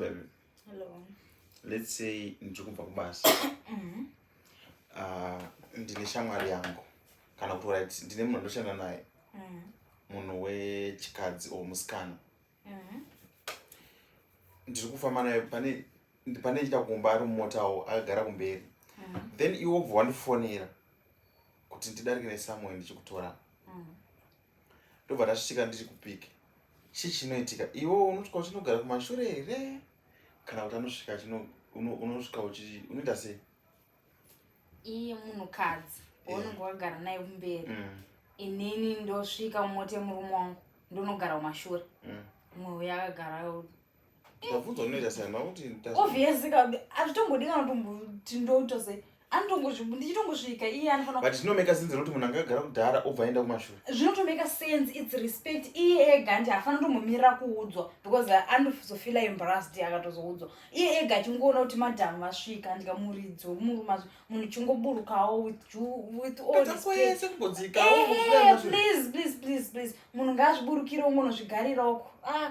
baby hello let's say ndiri kubva kubasa mm-hmm. ah, ndine shamwari yangu kana kuti right ndine munhu andoshanda naye mm-hmm. munhu wechikadzi or musikana mm-hmm. ndiri kufamba naye pane pane chita kumba ari mumotawo akagara kumberi then iwe obva wandifonera kuti ndidarike nesamuel ndichikutora ndobva tasvika ndiri kupiki chii chinoitika iwo unosvika uchinogara kumashure here kana kuti anosvika unosvika unoita sei iye munhukadzi waunenge wagara naye kumberi mm. inini ndosvika mumota yemurume wangu ndonogara kumashure mm. mwe uya akagara obviously kabi azvitongodi kana tomboti ndotose andichitongosvika iye anofanaut zvinomeka sense nokuti munhu angagara kudhara obva aenda kumashure zvinotomeka sense its respect iye ega nti hafana tombomira kuudzwa because anozofila embrased akatozoudzwa iye ega achingoona kuti madhamu vasvika ndikamuridzi wemuruma munhu chingoburukawo withwithallplease please please please munhu ngaazviburukire ungonozvigariroko ah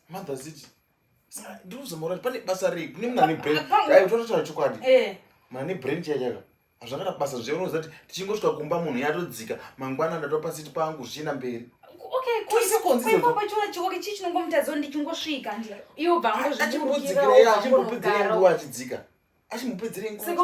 mother ziti ndikuzomora pane basa rei kune munhu ane brain dai utototaura chokwadi eh. munhu ane brain chaiya chaka hazvakada basa zviya unoziva kuti tichingosvika kumba munhu yatodzika mangwana ndatova pasiti pangu zvichienda mberi achimupedzerei nguva achidzika achimupedzerei nguva